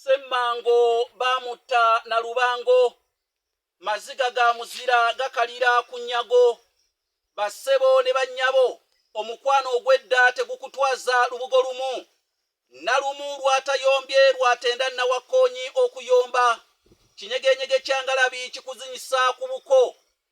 Ssemmango baamutta na lubango, maziga ga muzira gakalira ku nnyago, bassebo ne bannyabo omukwano ogw'edda tegukutwaza lubugo lumu, Nalumu lw'atayombye lw'atenda Nawakkoonyi okuyomba, kinyegenyege kya ngalabi kikuzinyisa ku buko,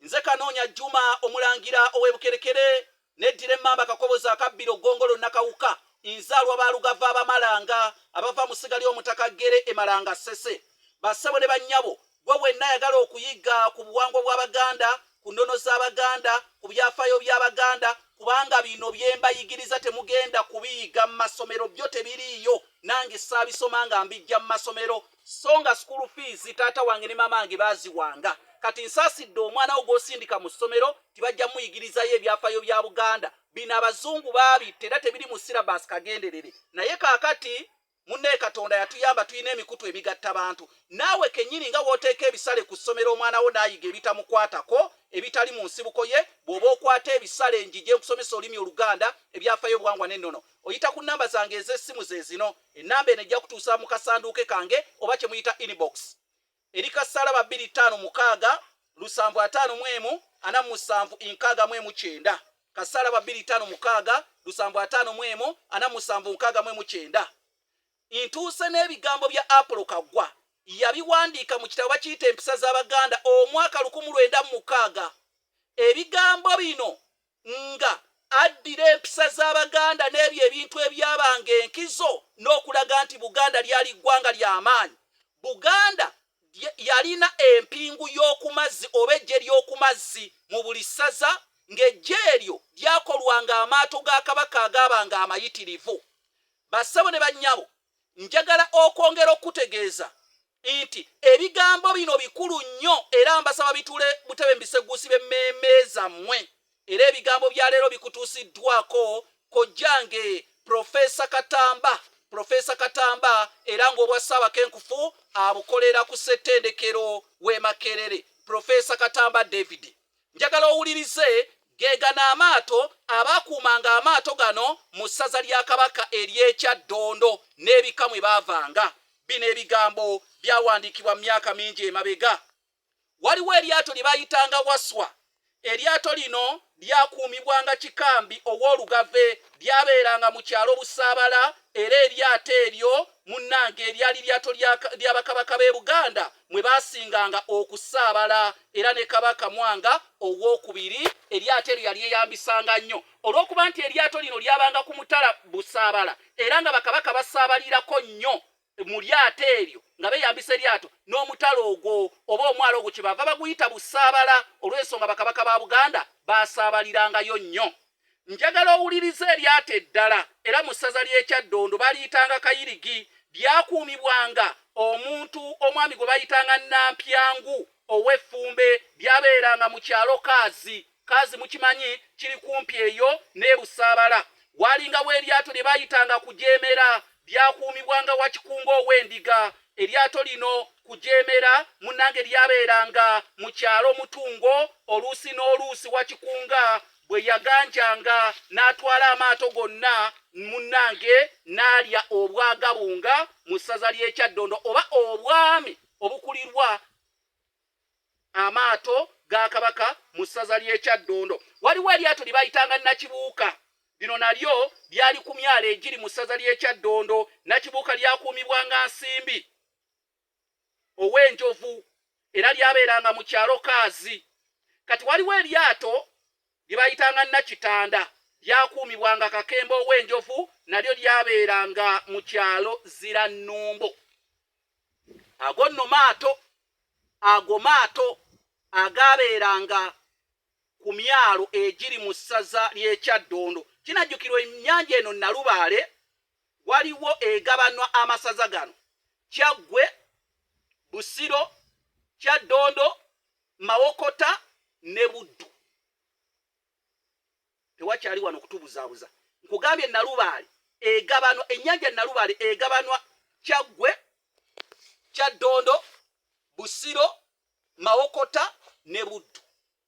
nze kanoonya juma omulangira ow'ebukerekere neddira emmamba kakobozi akabbiro ggongolo nakawuka nzaalwa balugava abamalanga abava mu ssiga ly'omutaka ggere emalanga ssese bassebo ne bannyabo gwe wenna yagala okuyigga ku buwangwa bw'abaganda ku nnono z'abaganda ku byafaayo by'abaganda kubanga bino byembayigiriza temugenda kubiyiga mu masomero byo tebiriiyo nange saabisoma nga mbijja mu masomero so nga school fees taata wange ne mama wange baziwanga kati nsasidde omwana wo gwosindika mu ssomero tibajja muyigirizayo ebyafayo bya buganda bino abazungu baabitta era tebiri mu sirabas kagenderere naye kakati munne katonda yatuyamba tulina emikutu emigatta bantu naawe kenyini nga wooteeka ebisale ku ssomero omwana wo naayiga ebitamukwatako ebitali mu nsibuko ye bw'oba okwata ebisale njije nkusomesa olulimi oluganda ebyafayo obuwangwa n'ennono oyita ku nnamba zange ez'essimu ze zino 0 8 4 5 7 8 4 5 7 Ennamba eno ejja kutuusa mu kasanduuke kange oba kye muyita inbox eri ka ssalaba bbiri ttaano mukaaga lusanvu ataano mu emu ana mu musanvu nkaaga mu emu kyenda ka ssalaba bbiri ttaano mukaaga lusanvu ataano mu emu ana mu musanvu nkaaga mu emu kyenda ntuuse n'ebigambo bya apulo kaggwa yabiwandiika mu kitabo bakiyita empisa z'abaganda omwaka lukumu lwenda mu mukaaga ebigambo bino nga addira empisa z'Abaganda n'ebyo ebintu ebyabanga enkizo n'okulaga nti Buganda lyali ggwanga lya maanyi. Buganda yalina empingu y'okumazzi oba eggye ly'okumazzi mu buli ssaza ng'eggye eryo lyakolwanga amaato ga Kabaka agaabanga amayitirivu. Bassebo ne bannyabo, njagala okwongera okukutegeeza nti ebigambo bino bikulu nnyo era mbasaba bitule butebe mu biseguusi b'emmeeme zammwe era ebigambo bya leero bikutuusiddwako kojjange Profesa Katamba Profesa Katamba era ng'obwa Ssaabakenkufu abukolera ku ssettendekero w'e Makerere Profesa Katamba David Njagala owulirize, Ge gano amaato abaakuumanga amaato gano mu ssaza lya Kabaka ery'e Kyaddondo n'ebika mwe baavanga. Bino ebigambo byawandiikibwa mu myaka mingi emabega. Waliwo eryato lye baayitanga Waswa. Eryato lino lyakuumibwanga Kikambi Owoolugave. Lyabeeranga mu kyalo Busaabala era eryato eryo munnange lyali lyato lya Bakabaka b'e Buganda mwe baasinganga okusaabala era ne kabaka mwanga ow'okubiri eryato eryo yali eyambisanga nnyo olw'okuba nti eryato lino lyabanga ku mutala busaabala era nga bakabaka basaabalirako nnyo mu lyato eryo nga beyambisa eryato n'omutala ogwo oba omwalo ogwo kyebava baguyita busaabala olw'ensonga bakabaka ba buganda basaabalirangayo nnyo Njagala owulirize eryato eddala, era mu ssaza ly'ekyaddondo baliyitanga kayirigi. Lyakuumibwanga omuntu omwami gwe bayitanga Nnampyangu ow'effumbe. Lyabeeranga mu kyalo Kaazi. Kaazi mukimanyi, kiri kumpi eyo n'e Busaabala. Waalingawo eryato lye baayitanga Kujeemera. Lyakuumibwanga Wakikungo ow'endiga. Eryato lino Kujeemera munnange lyabeeranga mu kyalo Mutungo, oluusi n'oluusi Wakikunga bwe yaganjanga n'atwala amaato gonna munnange n'alya obwagabunga mu ssaza ly'ekyaddondo oba obwami obukulirwa amaato ga kabaka mu ssaza ly'ekyaddondo waliwo eryato lye bayitanga nakibuuka lino nalyo lyali ku myalo egiri mu ssaza ly'ekyaddondo nakibuuka lyakuumibwanga nsimbi ow'enjovu era lyabeeranga mu kyalo Kaazi. Kati waliwo eryato lye baayitanga Nnakitanda, lyakuumibwanga Kakembo ow'enjovu, nalyo lyabeeranga mu kyalo Zirannumbo. Ago nno maato, ago maato agaabeeranga ku myalo egiri mu ssaza ly'e Kyaddondo. Kinajjukirwa ennyanja eno Nnalubaale Waliwo egabanwa amasaza gano, Kyaggwe, Busiro, Kyaddondo, Mawokota ne Buddu. Tewakyali wano kutubuzaabuza. Nkugambye Nalubaale egabanwa, ennyanja Nalubaale egabanwa Kyaggwe, Kyaddondo, Busiro, Mawokota ne Buddu.